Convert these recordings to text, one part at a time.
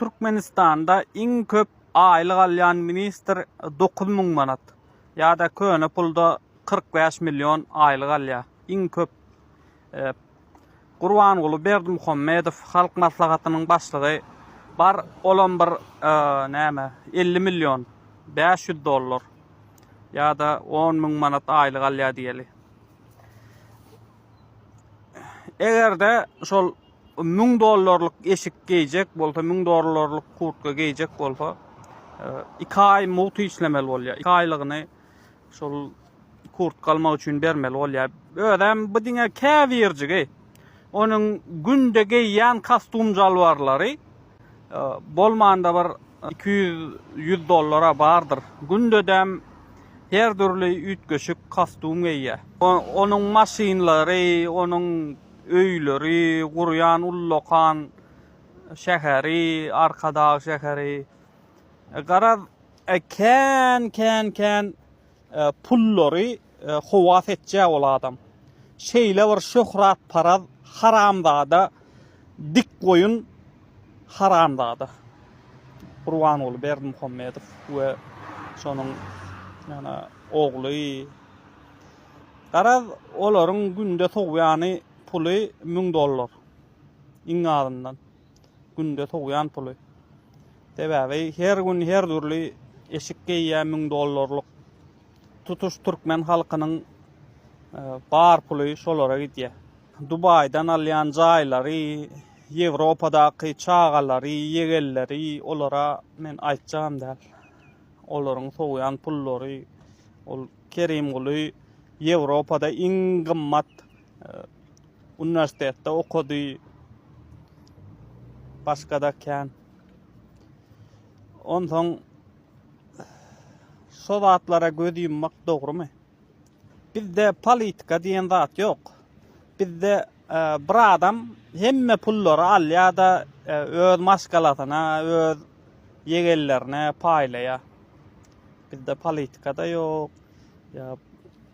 Türkmenistanda iň köp aýlyk alýan ministr dokuz müň manat. Ýa-da köne pulda kyrk bäş million aýlyk alýar. Iň köp Gurbanguly Berdimuhamedow Halk Maslahatynyň başlygy bar olam bir näme elli million bäş ýüz dollar ýa-da on müň manat aýlyk alýar diýeli. Eger-de şol 1000 dollarlyk eşik geýjek bolsa, 1000 dollarlyk kurtka geýjek bolsa, 2 e, aý mugt işlemeli bolýar. 2 aýlygyny şol kurt galmak üçin bermeli bolýar. Özem bu diňe käbirjigi. Onuň günde geýýän kostum jalwarlary Bolmanda bir iki ýüz dollara bardyr. Gündedem her dürli üýtgeşik kostum geýýär. Onuň maşynlary, onuň öýleri, gurýan ullakan şäheri, Arkadag şäheri. Garaz, kän, kän, kän Pullary howa seçjä ol adam. Şeýle bir şöhrat paraz haramzada dik goýun haramzada. Gurbanguly Berdimuhamedow we şonuň ýa-da ogly. Garaz olaryň günde sowýany puly müň dollar iň azyndan. günde sowýan puly. Sebäbi her gün her dürli eşik geýýär müň dollarlyk. Tutuş türkmen halkynyň e, bar puly şolara gidýär. Dubaýdan alýan jaýlary, Ýewropadaky çagalary, ýegenleri olara men aýtjagam däl. Olaryň sowýan pullary ol Kerimguly Ýewropada iň gymmat uniwersitetde okady. Başga-da kän. Onsoň şo zatlara göz ýummak dogrumy? Bizde politika diýen zat ýok. Bizde e, bir adam hemme pullary alýar-da e, öz maşgalasyna, öz ýegenlerine paýlaýar. Bizde politika-da ýok. Ýa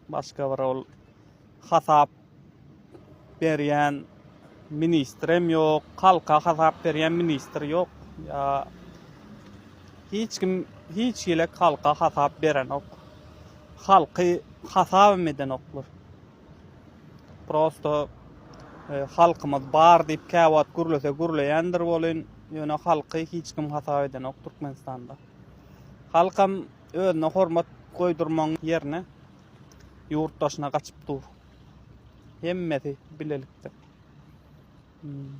başga bir ol hasap berýän ministrem ýok, halka hasap berýän ministr ýok. Ýa hiç kim hiç hili halka hasap berenok. Halky hasabam edenoklar. Prosto halkymyz bar diýip käwagt gürlese gürleýändir welin, ýöne halky hiç kim hasap edenok Türkmenistanda. Halkam özüne hormat goýdurmagyň ýerine Ýurt daşyna gaçyp dur. Hemmesi bilelikde. Hmm.